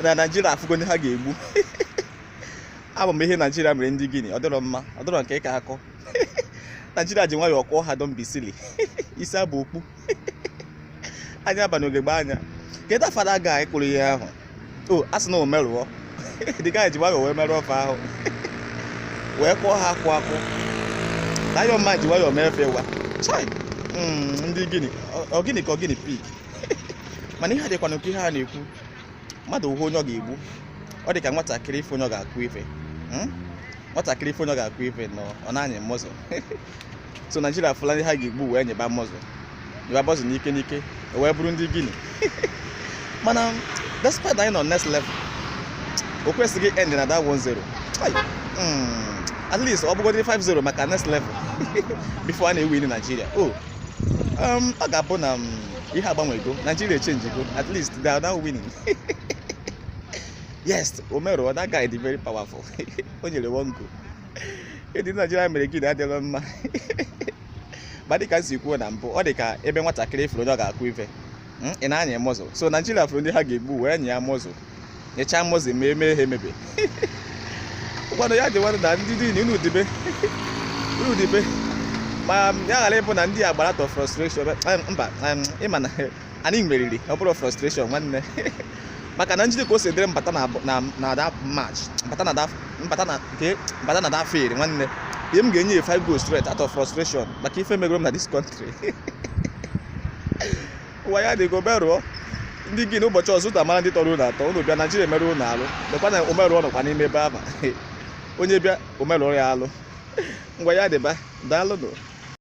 na naijiria afụgo ndị ha ga-egbu abụ m ihe naijiria mere ndị Guinea ọ dịrọ mma ọ dịrọ nke ịka akọ naijiria ji nwayọọ kụọ ha dombisili isi aba okpu anya aba n'ugegbe anya kedu afa da guy kụrụ ihe ahụ o a sị na Omeruo the guy ji nwayọọ wee merụọ fa ahụ wee kụọ ha akwụ akwụ na ayọ mma ji nwayọọ mee efe wa chai ndị Guinea ọ Guinea ka ọ guinea pig mana ihe a dịkwa n'oke ihe a na-ekwu mmadụ hụ onye ọ ga-egbu ọ dị ka nwatakịrị ịfụ onye ọ ga-akụ ife hmm? nwatakịrị ịfụ onye ọ ga-akụ ife na ọ na-enye mọzụ so naijiria fụlụ ndị ha ga-egbu wee nyeba mọzụ nyeba mọzụ n'ike n'ike e wee bụrụ ndị Guinea mana despite anyị nọ next level o kwesịghị end na that 1-0 hmm. at least ọ bụgodị 5-0 maka next level before a na-ewini naijiria o oh, ọ ga-abụ na ihe agbanwego Nigeria echenjigo at least they are now winning yes Omeruo that guy dị very powerful o nyere one goal ihe ndị Nigeria mere Guinea adịrọ mma ma dịka m si kwuo na mbụ ọ dị ka ebe nwatakịrị fụrụ onye ọ ga-akụ ife ọ na-enye mọzụ so Nigeria fụrụ ndị ha ga-egbu wee nyeba mọzụ nyechaa mọzụ ma eme ihe emebe ụkwanụ ya dị nwanụ na ndị niile unu dibe unu dibe ma ya ghara ịbụ na ndị a gbara out of frustration em, mba em, ị ma na anyị meriri ọ bụrụ frustration nwanne maka na njide ka o si dịrị m bata na abụ- na na da match m bata na da m bata na nke m bata na da field nwanne ihe m ga-enye ya five goals straight out of frustration maka ife e megoro m na this country ngwa ya dị ka Omeruo ndị Guinea ụbọchị ọzọ ụta mara ndị tọrọ unu atọ unu bịa naijiria merụọ unu alụ lekwa na Omeruo nọkwa n'ime ebe afụ onye bịa o merụọ ya alụ ngwa ya dịba daalụnụ